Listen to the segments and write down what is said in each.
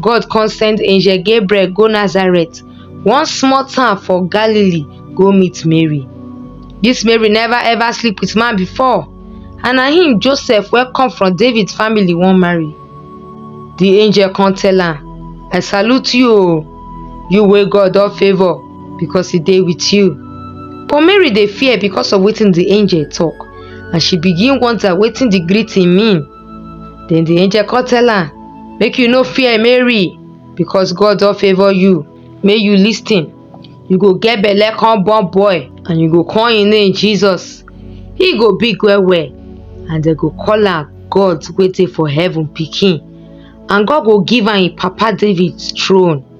God come send angel Gabriel go Nazareth, one small town for Galilee, go meet Mary. This Mary never ever sleep with man before, and na him Joseph wey come from David family wan marry. The angel come tell am, I salute you o, you wey God don favour because he dey with you. But Mary dey fear because of wetin the angel talk, and she begin wonder wetin the greeting mean. Then the angel come tell am, Make you no fear, Mary, because God don favour you. Make you lis ten. You go get belle come born boy, and you go call him name Jesus. He go big well well, and dem go call am God wey dey for heaven pikin. And God go give am him papa David throne.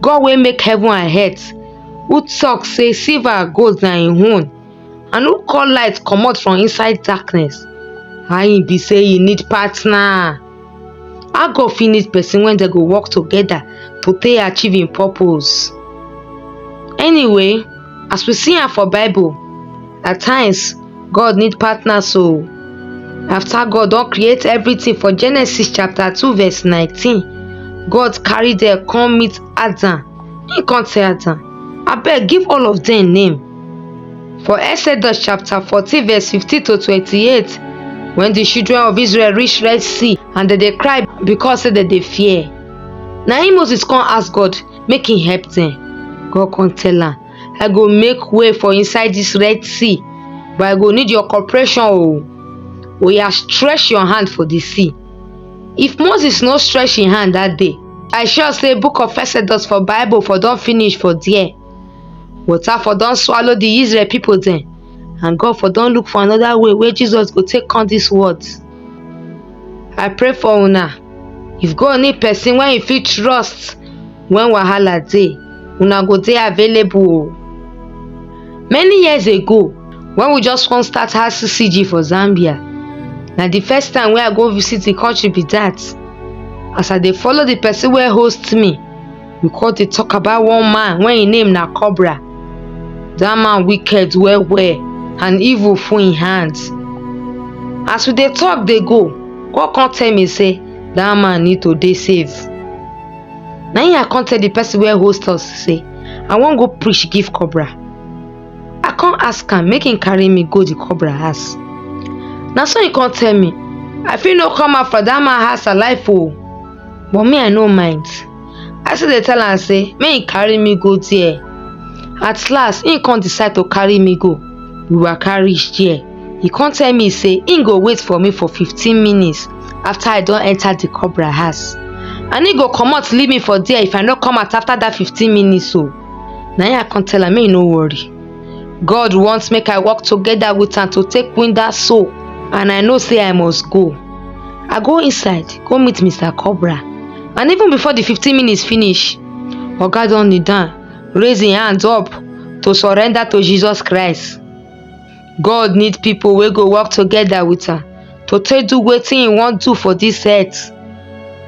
God wey make heaven and earth, who talk say silver and gold na im own, and who call light comot from inside darkness, how e be say e need partner? How God fit need person when dem go work together to take achieve im purpose? Anyway, As we see am for bible, at times God need partners o. After God don create everything for Genesis chapter 2 verse 19, God carry dem come meet Adam. He come tell Adam, abeg give all of dem name. For Exodus chapter 14 verse 15 to 28, when the children of Israel reach Red Sea and dem dey cry because say dem dey fear. Na im Moses come ask God, make he help dem. God come tell am, I go make way for inside this Red Sea, but I go need your cooperation o. Oya stretch your hand for the sea. If Moses no stretch him hand that day, I sure say book of Exodus for Bible for don finish for there. Water for don swallow the Israel people dem and God for don look for another way wey Jesus go take come this world. I pray for una. If God need person wey e fit trust when wahala dey, una go dey available o. Many years ago, when we just come start RCCG for Zambia, na the first time wey I go visit the country be that. As I dey follow the person wey host me, we come dey talk about one man wey im name na cobra dat man wicked well well and evil full im hand as we dey talk dey go god come tell me say dat man need to dey safe na im i come tell the person wey host us say i wan go preach give cobra i come ask am make im carry me go the cobra house na so im come tell me i fit no come out for dat man house alive o but me i no mind I still dey tell am say make he carry me go there. At last, he come decide to carry me go. We waka reach there. He come tell me say he go wait for me for 15 minutes after I don enter the cobra house. And he go comot leave me for there if I no come out after that 15 minutes o. Na him I come tell am make he no worry. god want make i work togeda wit am to take win dat soul and i know say i must go i go inside go meet mister cobra and even before di fifteen minutes finish oga don kneel down raise im hands up to surrender to jesus christ god need pipo wey go work togeda wit am to take do wetin im wan do for dis earth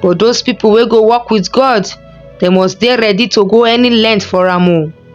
but those pipo wey go work wit god dem must dey ready to go any length for am o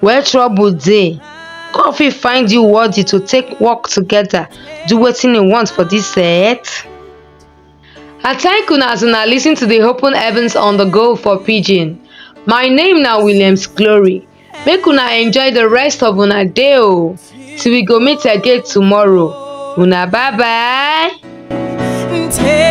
Where trouble dey, God fit find you worthy to take work together, do wetin e want for this earth. I thank una as una listen to the Open Heavens on the Go for Pidgin. My name na Williams Glory. Make una enjoy the rest of una day o. Till we go meet again tomorrow. Una bye bye. Take